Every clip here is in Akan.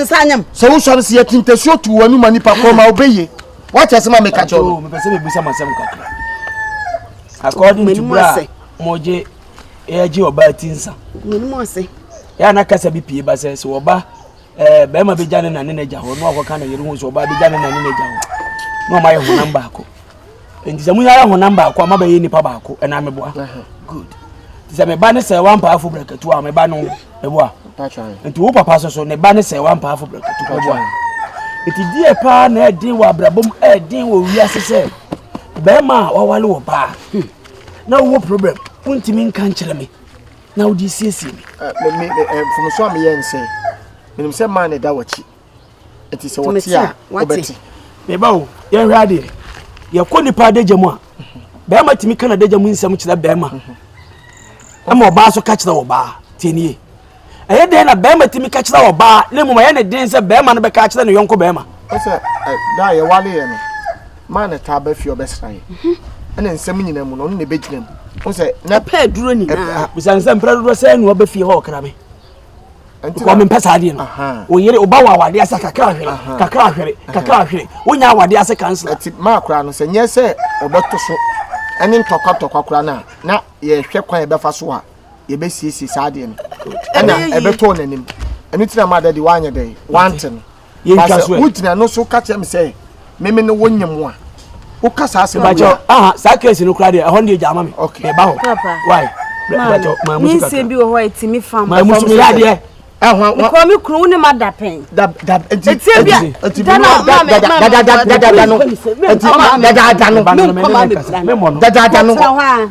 Nsa nyem. Sɛ wo sɔre si yɛ ti ntasuo tu w'ani ma nipa kɔn ma ɔbɛ yie. Wate ase ma meka kyɛw no. Mepɛ sɛ mebisa mo asɛm kakra. According to bra mogye yɛgye ɔbaa ti nsa. Menim ase. Yɛ ana kasa bi pie ba sɛ sɛ ɔba ɛɛ bɛrima bɛgya ne na ne n'agya hɔ na ɔkɔka ne yere ho sɛ ɔbaa bɛgya ne na ne n'agya hɔ na ɔma yɛ honam baako. nti sɛ mo nyinaa yɛ honam baako a mo abɛyɛ nipa baako ɛna mo boa good nti sɛ me ba ne sɛ wampaa fo brɛkatu a me ba no ɛboa nti wo papa so so ne ba ne sɛ wampaa fo brɛkatu ɛboa nti deɛ paa na ɛden wɔ abrabɔ mu ɛden wɔ wiase sɛ bɛrima a wawale wɔ baa hmm. na wowɔ problem wontumi nka nkyerɛ me na wode siesie me mfomso a meyɛ nsɛ menim sɛ maa ne da wɔkyi ɛti sɛ wɔte a wɔbɛte meba o yɛnhwɛ adeɛ yɛkɔ nipa adagya mu a bɛrima tumi ka n'adagya mu nsɛm kyerɛ bɛrima ɛma ɔbaa so ka kyerɛ ɔbaa tie nie ɛyɛ dɛn na bɛrima tumi ka kyerɛ ɔbaa na mmom ɛyɛ ne den sɛ bɛrima no bɛka kyerɛ ne yɔnko bɛrima ɛsɛ da a yɛwaleɛ no maa ne taa bɛfie ɔbɛsra yɛ ɛne nsɛm nyina mu no ɔno na ɛbɛgyina mu wo sɛ na pɛ aduro nyinaa bisa nsɛm prɛ dodoɔ sɛ ɛnoa bɛfie hɔ ɔkra me kɔ mempɛ saa adeɛ no wo yere woba wɔ awadeɛ ase kakra ahwere kakra ahwere kakra ahwere wonya awadeɛ ase kansela ɛti maa koraa no sɛ nyɛ sɛ ɔbɛto so ɛne ntɔkwatɔkwa koraa no a na yɛhwɛ kwan yɛbɛfa so a yɛbɛsiesie saa adeɛ no ɛna ɛbɛtɔɔ n'anim ɛno nti na maa dɛ de woanyɛ dɛ woante no yɛntwa so ɛ wogyina no so ka kyerɛ me sɛ meme ne wo nye mo a woka saa asɛm bakyɛ aha saa kɛse no koraa deɛ ɛhɔ no deɛ gyaama me meba hɔ wae bakyɛ maa mu suka nsɛm bi wɔ hɔ a ɛtumi fa maa mu suka yadeɛ nkɔ me kuro wo ne ma da pɛn ɛtie bia dana dada no dada no dada no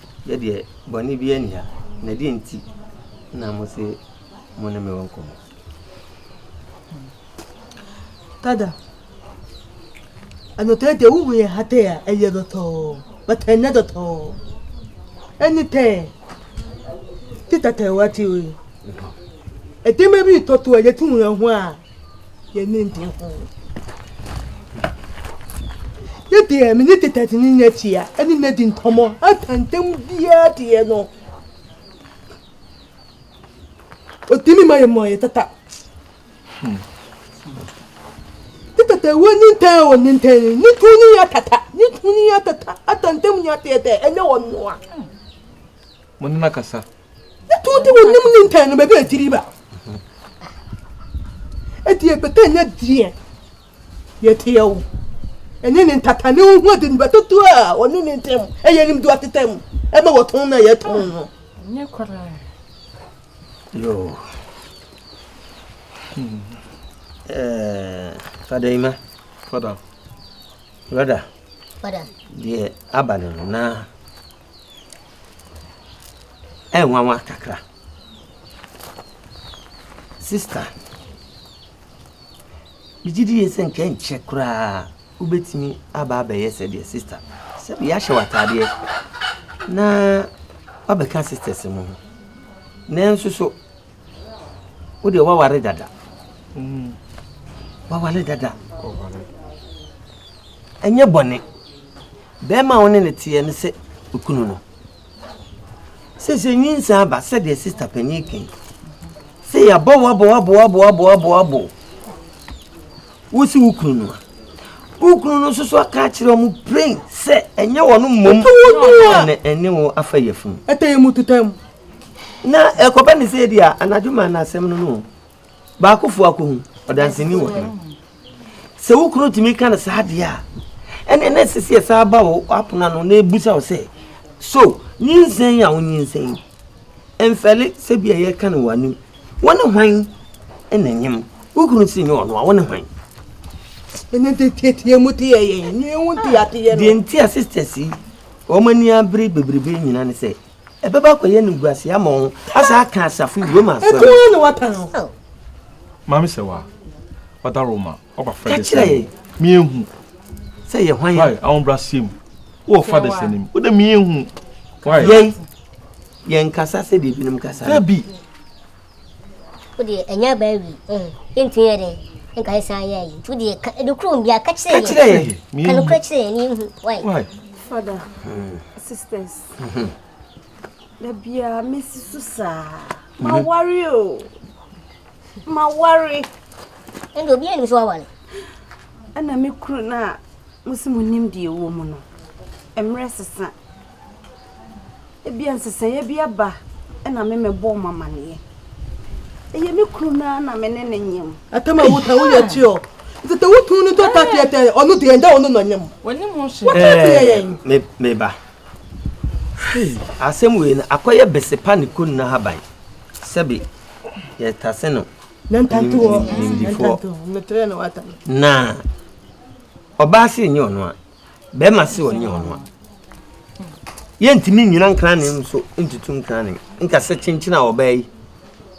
Yɛ deɛ bɔne biara nni ha, na deɛn nti na mose mo ne me wɔ nkɔmmɔ? Dada, anɔtɔɛ deɛ wohu yɛ ha tɛ a, ɛyɛ dɔtɔɔ, but ɛnyɛ dɔtɔɔ. Ɛne tɛ, ti tatɛ wɔ ati oe. Ɛdɛma bi tɔto a yɛtu ho a, yɛn ani gye ho. Ne deɛ me ne tetɛte ne nya tia ɛne na di nkɔmmɔ atantam biara deɛ no ɔtumi ma yɛ mmɔ yɛ tata ne tata wɔ ne ntɛn wɔ ne ntɛn ne tu ne yɛ tata ne tu ne yɛ tata atantam nya teɛtɛ ɛnyɛ wɔ noa mo ne no akasa Wotɔn de wo nim ne ntɛn no baabi a ɛtiri ba. Ɛti ɛbɛtɛ nyɛ deɛ yɛteɛ wo. Ɛnyɛ ne ntata ne wo ho adi no bɛtɔ tu a ɔne ne ntɛm. Ɛyɛ nim do ateta mu. Ɛma wɔtɔn na yɛtɔn no. Nyɛ koraa. Yo. Hmm. Eh, Fada Ima. Fada. Fada. Fada. Deɛ aba no na nwanwa kakra. Sista, megye di sɛ anka ɛnkyɛ koraa wobɛtumi aba abɛyɛ sɛdeɛ sista, sɛbi ahyɛ w'ataadeɛ na woabɛka sistas mu no. Nanso so wo deɛ waware dada mm. waware dada ɛnyɛ bɔne bɛrima a wo ne ne teɛ no sɛ okunu no sɛ sɛ nyinsa aba sɛdeɛ sista panyin kan sɛ yɛabɔ woabɔwoabɔwoabɔwoabɔwoabɔ wo si wo kunu no a wo kunu no nso so aka akyerɛ ɔmo plain sɛ ɛnyɛ wɔn mmom ɛne wo afa yɛfunu ɛtɛ yɛ mu tetɛ mu Na ɛkɔba ne sɛ ebia anadwo ma na asɛm no no baakofo akohu ɔdanseni wɔ hene sɛ wo kunu tumi ka no saa deɛ a ɛne na ɛsɛ sɛ yɛsa aba wo apono ano na ɛbusa wo sɛ so nyinsɛn a wonyinsɛn mfɛle sɛ bia yɛka no wɔ anim wo ne hwan na nyem wo kunu si nyɛ ɔno a wo ne hwan ɛne tetiatia mu te yɛ yɛn ne ɛho nteateɛ no deɛ nti a sisters yi wɔn ani abere bebrebe nyina ne sɛ Ɛbɛba akɔyɛ animguaseɛ ama wɔn, asan aka asafo yi, Roma asɔre. Ɛko ara na waka no. Oh. Maame sɛ wa, wada Roma, waba fɛ de sɛ. Ɛkyerɛ yɛ. Mienhu. Sɛ yɛ hwan yɛ. Wai, awon bra sie mu. Wɔ fa de sɛ nim. Wode mienhu. Wai. Yɛn, yɛn kasa sɛ deɛ ebinom kasa. Dabi. wodeɛ ɛnyɛ aba awi eh, ntumi yɛ dɛn nka yɛ san yɛ ayi nti wodeɛ ka ɛdokuro bi a ka kyerɛ yɛ ka nokura kyerɛ yɛ ne yɛhu wai father sisters da biara mesi so saa ma worry o ma worry ɛnde obi anim so wawale ɛna me kuro no a mo se mo nim deɛ ɛwɔ mu no mmerɛ sesa Ebia nsesaeɛ bi aba na me mɛbɔ mo amaneɛ. Ɛyɛ me kunu no ara na me ne ne nyem. Ɛtɛm a wota wo yɛ kyi o. Nti te wo tunu to ta teɛ tɛ ɔno deɛ ɛnda ɔno na nyem. Wɔnim ho hwɛ. Wota teɛ yɛn. Me me ba. Asɛm wei no akɔyɛ besepa ne kunu no haban. Sɛbi yɛtase no nimdifoɔ. Na ɔbaa se nyɛ ɔno a. bɛrima se ɔnyɛ ɔno a yɛntumi nnyina nkrane nso ntutu nkrane nka sɛ kyenkyene a ɔbaa yi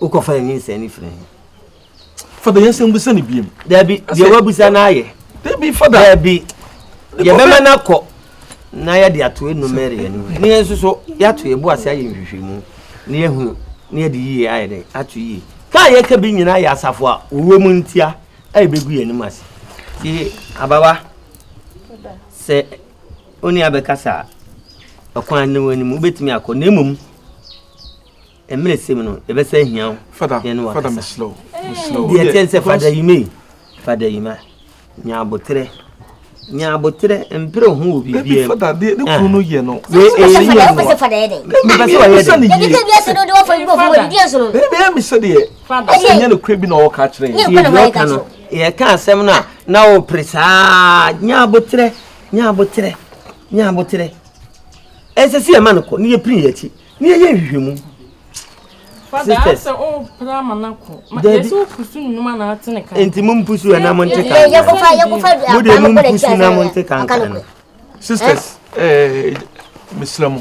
wokɔfa ne ninsɛn no firi he fada yɛnsɛm busa ne biam daabi deɛ wabusa no ayɛ daabi fada daabi yɛbɛma no akɔ na yɛde ato enumere yɛn mu ne yɛn nso so yɛato yɛn bo ase ayɛ nhwehwɛmu na yɛhunu na yɛde yie ayɛ dɛ ato yie ka a yɛka bi nyinaa yɛ asafo a wɔwɔ mu ntia a yɛbɛgu yɛn anim ase yie abawa Sɛ onii abɛkasa a, ɔkwan ne w'anim, wobɛtumi akɔ na mmom mmerɛ sɛ mu no yɛbɛsɛ ahia wo yɛne wakasa deɛ ɛkyɛn sɛ fada yima yi fada yima nya aboterɛ nya aboterɛ mpere ho wɔ biribiaa mu fada deɛ ne kuro no yɛ no wei ɛyɛ yie no mepɛ sɛ wɔyɛ dɛ bɛyɛ me sɛ deɛ ɛsɛ nyɛ no kura bi na ɔwɔ ka kyerɛ yɛ Yɛka asɛm no a, na wopere saa, nya aboterɛ, nya aboterɛ, nya aboterɛ. Ɛsɛ sɛ yɛma no kɔ, ne yɛpiri yɛakyi, ne yɛyɛ nhwehwɛmu. Nti mo mpusu ɛna mo nte kankan. Mo deɛ mo mpusu na mo nte kankan. Sisters, eh, mesra mu.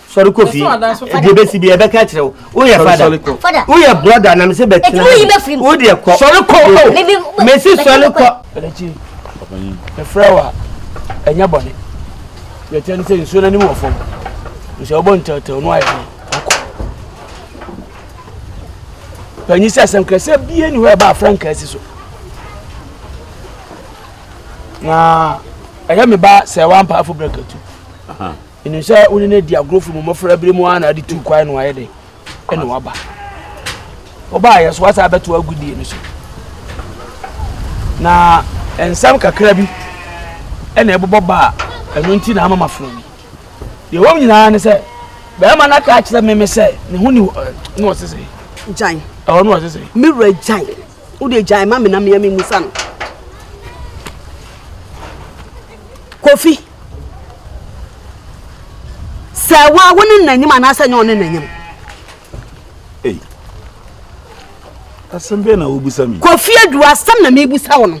sɔre kɔ fie deɛ bɛsi bi ɛbɛka akyerɛ wo woyɛ fada woyɛ brɔda na mesɛ bɛtena wo deɛ kɔ sɔre kɔ o mesi sɔre kɔ ɛfrɛ wo a ɛnyɛ bɔne yɛkyɛ ne sɛ nsuo no anim wɔ fam nsuo wobɔ ntɛwtɛw no ayɛ no akɔ panyi sɛ asɛm kra sɛ bie ni hɔ ɛba afra nka asi so na ɛyɛ me ba sɛ wampaafo brɛkatu Menim sɛ wo ne no adi agorɔ firi mo mmɔfra berɛ mu ara na ade tuu kwan no ayɛ den ɛna waba. Wobaayɛ so wasa abɛto agodie no so. Na nsɛm kakra bi ɛna ɛbobɔ baa ɛno nti na ama mafrɛ bi. Deɛ wɔm nyinaa ne sɛ bɛrima no aka akyerɛ me me sɛ ne ho ni ne ɔsesɛ. Gyan. Ɛwɔ ne ɔsesɛ. Me wura gyan. wo de gyae ma me na mea memusa no kofi sɛ wo a wo ne n'anim anaasɛ nyɛ ɔne n'anim asɛm bɛɛ na wobusa mi kofi adu asɛm na mebusa wo no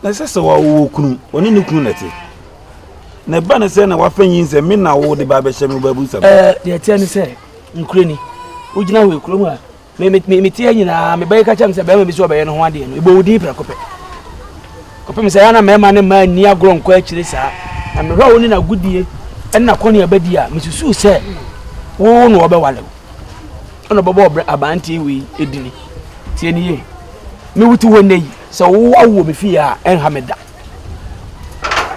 na ɛsɛ sɛ wɔwɔ kunu ɔne ne kunu nɛte na ɛba ne sɛ na wafa nyi sɛ me na wo de ba bɛhyɛ me babu sɛm deɛ ɛteɛ ne sɛ nkurani wogyina hɔ ɛkurom a me me me tie nyinaa me bɛyɛ ka kyɛm sɛ bɛrima bi sɛ ɔbɛyɛ ne ho adeɛ no ɛbɔ wo din prɛko pɛ kɔpem sɛ yɛa na mmarima ne mmaa nni agorɔ nkɔ akyire saa na mehwɛ a wo ne nagodie ɛne nakɔne abadi a mesusuu sɛ wo na wɔbɛwale wo ɛna ɔbɛbɔ abanteɛ wei ɛdini tie ne yie mewote hɔ nnɛ yi sɛ wo awoɔ me fie a ɛnha me da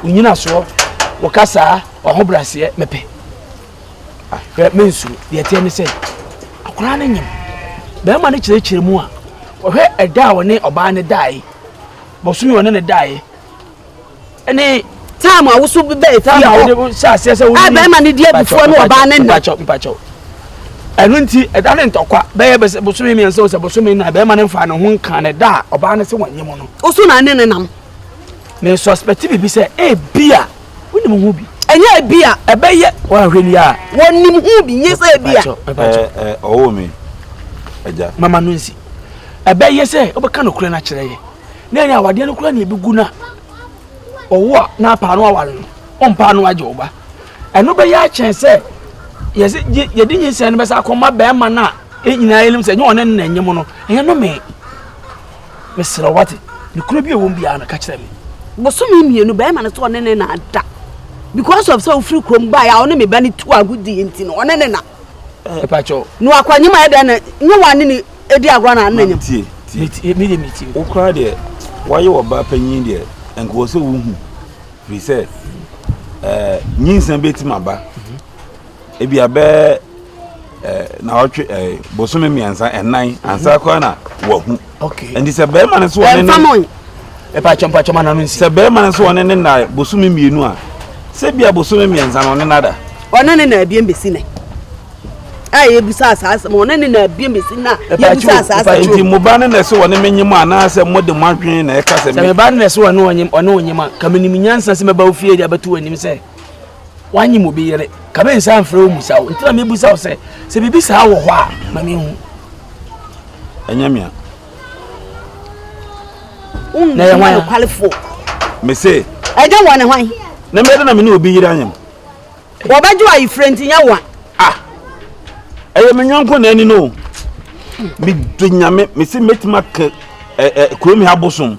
wonyina soɔ wɔka saa ɔho braseɛ mepɛ Hwɛ, mensuro. Deɛ ɛteɛ ne sɛ, akwadaa no nyem. Barima no kyerɛkyerɛ mu a, wɔhwɛ ɛda a ɔne ɔbaa no daeɛ, bosome a ɔne no daeɛ, ɛne time a woso bi bɛyɛ time a wode hyɛ aseɛ sɛ wode bɛrima no di abufuo ne ɔbaa no nna mpakyɛw ɛno nti ɛda ne ntɔkwa bɛyɛ bɛsɛ bosome mmiɛnsa o sɛ bosome na bɛrima no nfa ne ho nka ne da a ɔbaa no sɛ wɔnyɛ mu no woso na ne ne nam ne suspect biribi sɛ ebia Wonim ho bi. Ɛnyɛ ebi a ɛbɛyɛ. Wɔahwɛ ni a. Wɔnim ho bi, nyɛ sɛ ebi a. Ɛɛ, ɔwɔ me, Agya. Mama no nsi. Ɛbɛyɛ sɛ wobɛka nokorɛ no akyerɛ yɛn. Na ɛne awadeɛ no koraa na ɛbɛgu no a ɔwo a na apaa no aware no, ɔmpaa no agye wo ba. Ɛno bɛyɛ akyɛn sɛ yɛse yɛde nyinsɛn no bɛsa akɔma bɛrima no a yɛn nyinaa yɛnim sɛ nyɛ ɔne no na ɛnyem no, ɛyɛ no me. Mesrɛ wo, wate? Nokorɛ bi a ɛwɔ mu biara no, ka kyerɛ me. Bosome mmienu, barima no sɛ ɔne ne na ada. Because of sɛ wofiri kurom baeɛ a ɔne me ba no tu agodie nti no, ɔne ne na. Ɛpakyɛw. Eh, no akwanyem ayɛ dɛn na nyɛ wɔn ane ne edi agorɔ na ane nyem. Tie tie. Me deɛ me tie. Wokura deɛ wɔayɛ wɔ ba panyin deɛ nka wɔ sɛ wohu firi sɛ ɛɛ eh, nyinsa bɛtumi aba. ebia bɛyɛ eh, naawɔtwe eh, bosome mmiɛnsa ɛnan ansa koraa na wahu nti sɛ bɛrima no so ɔne ne ɛpakyɛ mpakyɛ ma nano nsi sɛ bɛrima no so ɔne ne na bosome mmienu a sɛ bia bosome mmiɛnsa no ɔne nada ɔne ne na abien bɛsi nɛ a yɛbusa asaa asɛm ɔne ne na abien bɛsi na yɛbusa asaa asɛm nti mo ba no na ɛsɛ ɔne menye mu anaasɛ mode mo adwene na ɛka sɛ me ba no na ɛsɛ ɔne ɔne ɔnyema ka menim nyansa sɛ mɛba wo fie de abɛto w'anim sɛ wanye mo bi yere ka me nsa mfrɛ wo musa wo ntina mebusa wo sɛ sɛ biribi saa wɔ hɔ a ma menhu ɛnyɛ mea na yɛ hwan nokwalefoɔ mese ɛnyɛ wɔn ne hwan na mɛde na mene obi yere anyam wɔbɛgye ayefirɛ nti nyɛ wa ah ɛyɛ me nyɔnko na ani no mede nyame mese mɛtumi aka kurom ha bosom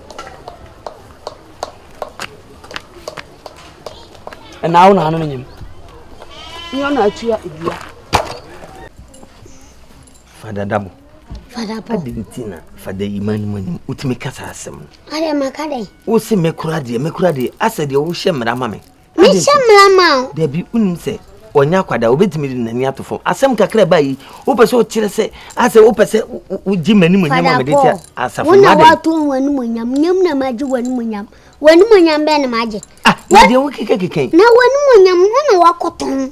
ɛnaa wo na ano no nyem nyɛ na atua edua fada dabo fada po adi nti na fada yi ma anim anim wotumi kasa asɛm no adɛ maka dɛ wo se mekora deɛ mekora deɛ asɛ deɛ wohyɛ mmara ma me Mehyɛ mmara ma wo. Dabi, wonim sɛ ɔnyɛ akwadaa, obetumi de n'ani ato fam. Asɛm kakra ba yi, wopɛ sɛ wokyerɛ sɛ asɛ wopɛ sɛ wogye m'animuonyam a mede te asafo no. Wo na woato ho animuonyam, nyam na magye w'animuonyam. W'animuonyam bɛn na magye? Ah, na deɛ wokekakeka yi. Na w'animuonyam, wo na woakɔtɔn.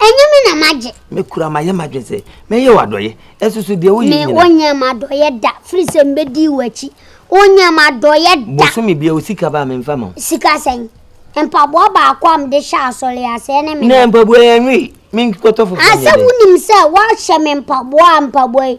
Ɛnyɛ me na magye. Mekura mayɛ m'adwene sɛ mɛyɛ wo adɔeɛ ɛsoso deɛ woyɛ nyina. Me wonyɛ m'adɔeɛ da firi sɛ mbɛdi w'akyi wonyɛ m'adɔeɛ da. Bosome bia wo sika ba a memfa ma wo. Sika sɛn? Mpaboa baako a mede hyɛ asɔre ase ɛne me. Na mpaboa yi ɛnwe menkɔtɔ foforɔ nyɛ dɛ. Asɛ wonim sɛ woahyɛ me mpaboa a mpaboa yi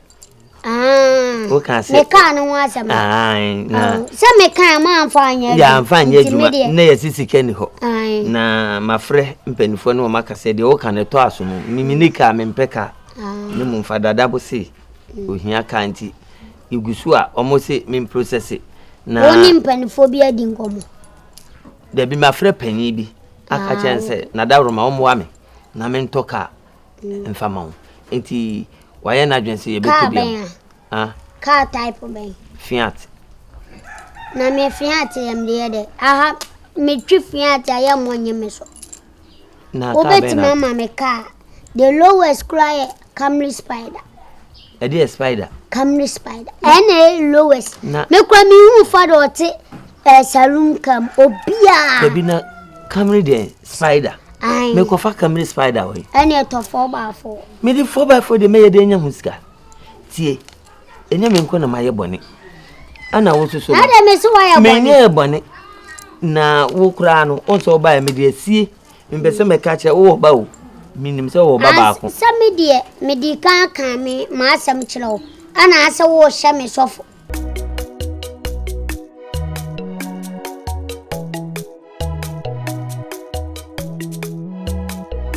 woka sɛ mekaa no ho asɛm sɛ mekaa maamfa anyɛ adwuma anyɛ adwuma na yɛse sika ni hɔ na mafrɛ mpanimfoɔ ne wɔmaka sɛ deɛ woka no ɛtɔ aso mu memene kaa mempɛ kaa ne mu mfa dada bo se ohia kaa nti ɛgu so a ɔmo se memprosɛse na wo ne mpanimfoɔ bi adi nkɔmmɔ dabi mafrɛ panyin bi aka kyɛn sɛ nadaworoma ɔmmoa me na mentɔ kaa mfa ma wo nti wayɛ n'adwene sɛ yɛbɛtɔ bi a car type bɛn fiat na me fiat yɛ mede yɛ dɛ aha metwi fiat a yɛ mmɔ nye me so wobɛtumi ama me car the lowest koraa yɛ camry spider Ɛdeɛ spider. Kamene spider. Ɛna ɛyɛ lowest. Me kura me hu fa de ɔte ɛɛ saloon kam obiara. Ebi na kamene deɛ spider. Ayi. Me kɔfa kamene spider wɔ yi. Ɛna ɛtɔ four by four. Me de four by four de mɛyɛ de enya ho sika. Tie. Enya me nko na ma yɛ bɔne. Ɛna wo soso. Ɛna me so wa yɛ bɔne. Me nyɛ bɔne. Na wo kura no. Ɔsɔ ɔba yɛ me de asie. Mepɛ sɛ mɛka kyerɛ wowɔ ba o. Menim sɛ wowɔ ba baako. Sɛ me deɛ mede kan aka me m'asɛm kyerɛ wo, anaasɛ worehyɛ me sɔfo.